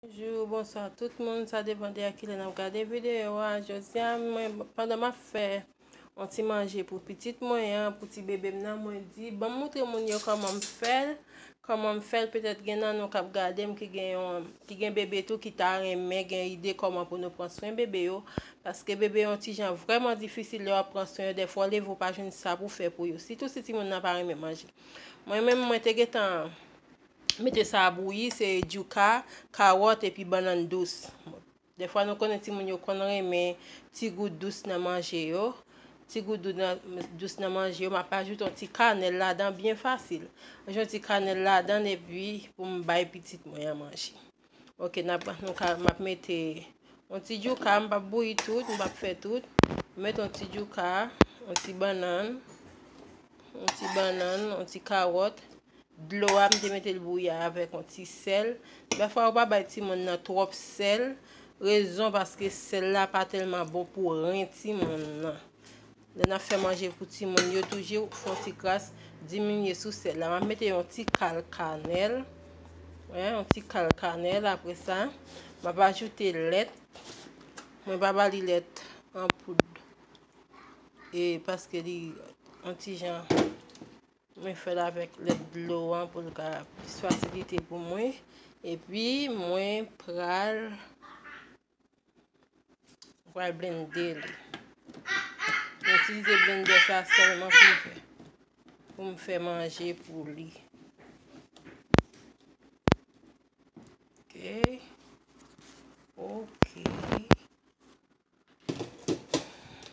Bonjou, bonswa tout moun, sa depan de a kilè n ap gade videyo a, jodi a mwen pandan m ap fè yon ti manje pou pitit mwen an, pou ti bebe m nan, mwen di ban m moutre moun yo kòman m fè l, kòman m fè l, petèt gen nan nou k ap gade m ki gen yon, ki gen bebe tou ki ta renmen gen ide kòman pou nou pran swen bebe yo, paske bebe yo yon ti jan vrèman difisil lè w ap pran swen yo, dèfwa w leve ou pa jwenn sa pou w fè pou yo, sitou si timoun nan pa renmen manje. Mwen menm mwen te gen tan Mete sa a bouyi, se djouka, kawòt epi bannann dous. Dèfwa nou konnen timoun yo konn renmen ti gou dous nan manje yo. Ti gou dous nan manje yo, m ap ajoute yon ti kanèl ladan byen fasil. Mwen jwenn ti kanèl ladan epi pou m bay pitit mwen an manje. Ok nap nou ka map mete yon ti djouka m pap bouyi tout m pap fè tout m met yon ti djouka yon ti bannan yon ti bannan yon ti karot dlo a m te mete l bouyi avèk yon ti sèl dèfwa yo pa bay timoun nan twòp sèl rezon paske sèl la pa tèlman bon pou ren timoun nan Lè nap fè manje pou timoun yo toujr fon ti kras diminye sou sèl la. Map mete yon ti kal kanèl. Yon ti kal kanèl apre sa. Map ajoute lèt. Mwen pa ba li lèt an poud. E paske li an ti jan. Mwen fèl avèk lèt dlo an pou l ka plis fasilite pou mwen. E pi mwen pral. Ou pral blende li. Mwen itilize blende sa sèlman pou fè. Pou m fè manje pou li. Ok. Ok.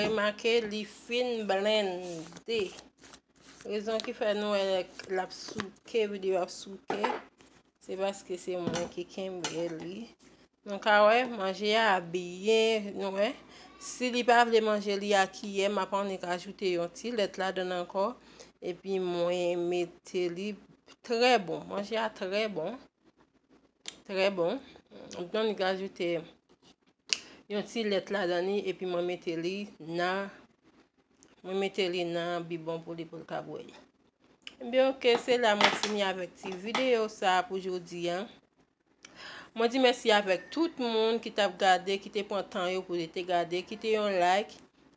remake li fin blende rezon ki fè nou el ap souke videyo ap souke se paske se mwen ki kenbe li Nou ka wè manje ya ap byen nou wè si li pa vle manje li a kiyè map annik ajoute yon ti lèt ladann ankò epi mwen mete li trè bon manje ya trè bon trè bon mwen te annik ajoute yon ti lèt ladann li epi mwen mete li nan mwen mete li nan bibon pou li pou l ka bwèy ebyen ok se la mwen fini avèk ti videyo sa pou jodi an Mwen di mèsi avèk tout moun ki tap gade, ki te pran tan yo pou yo te gade, kite yon like,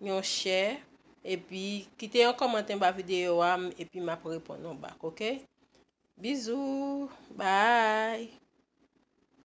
yon share, epi kite yon kòmantè ba videyo a, epi map reponn nou bak, ok? Bizou, bye!